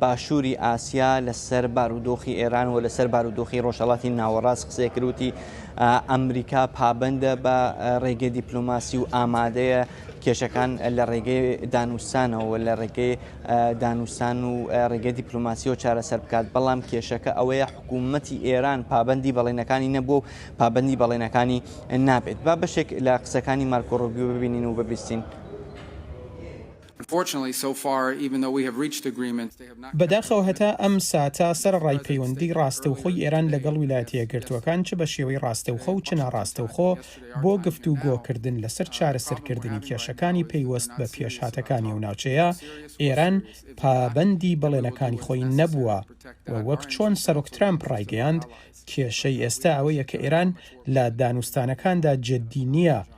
باشووری ئاسیا لەسەر بارودۆخی ئێران و لەسەر بارودۆخی ڕۆژهەڵاتی ناوەڕاست قسەی کرد وتی ئەمریکا پابەندە بە ڕێگەی دیپلۆماسی و ئامادەیە کێشەکان لە ڕێگەی دانوستانەوە لە ڕێگەی دانوستان و ڕێگەی دیپلۆماسیەوە چارەسەر بکات بەڵام کێشەکە ئەوەیە حکوومەتی ئێران پابەندی بەڵێنەکانی نەبوو و پابەندی بەڵێنەکانی نابێت با بەشێک لە قسەکانی مارکۆ ڕۆبیو ببینین و ببیستین. بەداخەوە هەتا ئەم ساتە سەرەڕای پەیوەندی ڕاستەوخۆی ئێران لەگەڵ ویلایەتە یەکگرتووەکان چ بە شێوەی ڕاستەوخۆ و چ ناڕاستەوخۆ بۆ گفتوگۆکردن لەسەر چارەسەرکردنی کێشەکانی پەیوەست بە پێشهاتەکانی ئەو ناوچەیە، ئێران پابەندی بەڵێنەکانی خۆی نەبووە و وەک چۆن سەرۆک ترامپ ڕایگەیاند کێشەی ئێستا ئەوەیە کە ئێران لە دانوستانەکاندا جددی نییە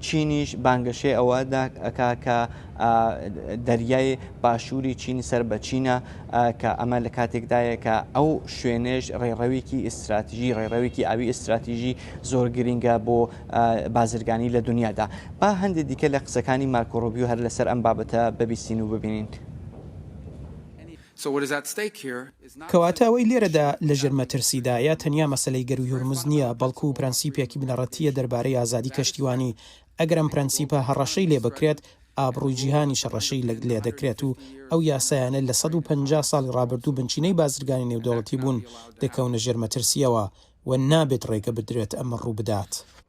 چینیش بانگەشەی ئەوە دەکا کە دەریای باشووری چین سەر بە چینە کە ئەمە لە کاتێکدایە کە ئەو شوێنێش ڕێڕەوێکی ئیستراتیژی ڕێڕەوێکی ئاوی ئیستراتیژی زۆر گرنگە بۆ بازرگانی لە دنیادا با هەندێک دیکە لە قسەکانی مارکۆڕۆبیو هەر لەسەر ئەم بابەتە ببیستین و ببینین. کەواتە ئەوەی لێرەدا لەژێر مەترسیدایە تەنیا مەسەلەی گەرووی هورمز نییە، بەڵکو پرەنسیپێکی بنەڕەتییە دەربارەی ئازادی کەشتیوانی، ئەگەر ئەم پرەنسیپە هەڕەشەی لێبکرێت، ئابڕووی جیهانیش هەڕەشەی لێدەکرێت و ئەو یاسایانەی لە سەد و پەنجا ساڵی ڕابردوو بنچینەی بازرگانی نێودەوڵەتی بوون، دەکەونە ژێر مەترسییەوە و نابێت ڕێگە بدرێت ئەمە ڕووبدات.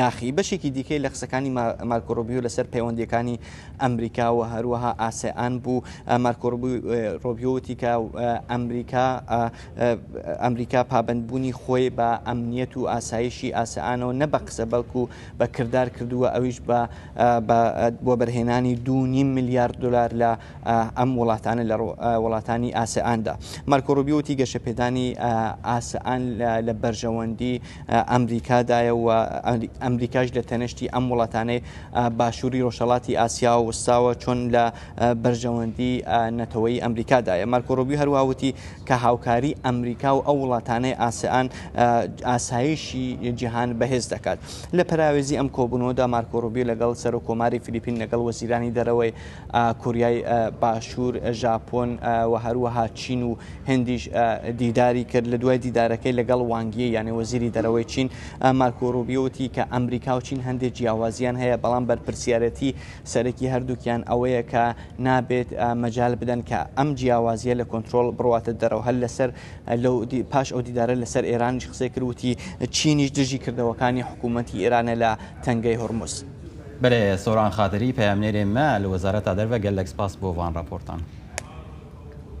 یاخی بەشێکی دیکەی لە قسەکانی مارکۆرۆبیو لەسەر پەیوەندیەکانی ئەمریکا و هەروەها ئاسیان بوو مارکۆرۆبیوتی کە ئەمریکا ئەمریکا پابندبوونی خۆی بە ئەمنیەت و ئاسایشی ئاسیانەوە نە بە قسە بەڵکو بە کردار کردووە ئەویش بە بۆ بەرهێنانی دوونی میلیارد دلار لە ئەم وڵاتانە لە وڵاتانی ئاسیاندا مارکۆرۆبیوتی گەشەپێدانی ئاسیان لە بەرژەوەندی ئەمریکادایە و ئەمریکاش لە تەنشتی ئەم وڵاتانەی باشووری ڕۆژهڵاتی ئاسیا و وستاوە چۆن لە بەرژەوەندی نەتەوەی ئەمریکادایە مارکۆڕۆبی هەروەوتی کە هاوکاری ئەمریکا و ئەو وڵاتانەی ئاسیان ئاسایشی جیهان بەهێز دەکات لە پراوێزی ئەم کۆبوونەوەدا مارکۆڕۆبی لەگەڵ سەر و کۆماری فلیپین لەگەڵ وەزیرانی دەرەوەی کۆریای باشوور، ژاپۆن و هەروەها چین و هندیش دیداری کرد. لە دوای دیدارەکەی لەگەڵ وانگ یی یانێ وەزیری دەرەوەی چین، مارکۆ ڕوبیۆ وتی کە ئەمریکا و چین هەندێک جیاوازییان هەیە، بەڵام بەرپرسیارێتی سەرەکی هەردووکیان ئەوەیە کە نابێت مەجال بدەن کە ئەم جیاوازییە لە کۆنترۆڵ بڕواتە دەرەوە. هەر لەسەر لەو پاش ئەو دیدارە لەسەر ئێرانیش قسەی کرد وتی چینیش دژی کردەوەکانی حکوومەتی ئێرانە لە تەنگەی هورمز. بەرێ سۆران خاتری پەیامنێرێ مە لە وەزارەتا دەرڤە گەللەک سپاس بۆ ڤان ڕاپۆرتان.